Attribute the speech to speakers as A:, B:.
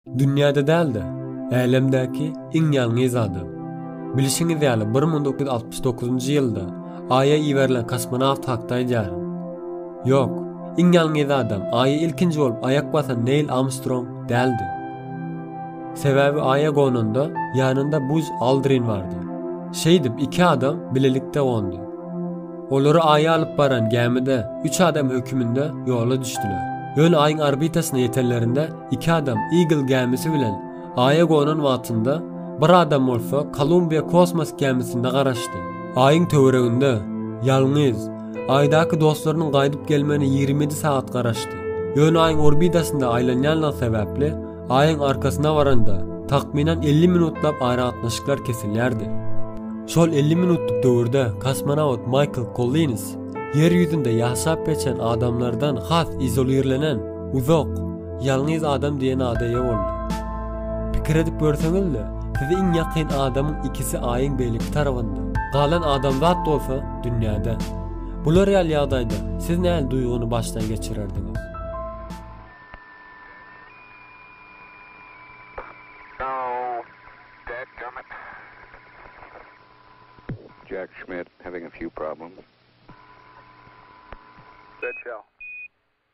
A: Dünýäde däl-de, älemdäki iň ýalňyz adam. Bilşiňiz ýaly, bir müň dokuz ýüz altmyş dokuzynjy ýylda Aýa iberilen kosmonawt hakda aýdýaryn. Ýok, iň ýalňyz adam Aýa ilkinji bolup aýak basan Neýl Amstrong däldi. Sebäbi Aýa gonanda ýanynda Buz Aldrin bardy. Şeýdip, iki adam bilelikde gondy. Olary Aýa alyp baran gämide üç adam höküminde ýola düşdüler. Ýöne Aýyň orbitasyna ýetenlerinde Iki adam Eagle gämisi bilen Aýa gonan wagtynda, bir adam bolsa Columbia kosmos gämisinde garaşdy. Aýyň töwereginde, ýalňyz, Aýdaky dostlarynyň gaýdyp gelmegine ýigrimi ýedi sagat garaşdy. Ýöne Aýyň orbitasynda aýlanýanlygy sebäpli, Aýyň arkasyna baranda, takmynan elli minutlap aragatnaşyklar kesilýärdi. Şol elli minutlyk döwürde kosmonawt Maýkl Kollins Ýer ýüzünde ýaşap geçen adamlardan has izolirlenen, Uzak, ýalňyz adam diýen ada eýe boldy. Pikir edip görseňiz-le, size iň ýakyn adamyň ikisi Aýyň beýleki tarabynda, galan adamzat bolsa, dünýäde. Bular ýaly ýagdaýda siz nähili duýgyny başdan geçirerdiňiz?
B: Jack Schmitt having a few problems.
C: Dead shell.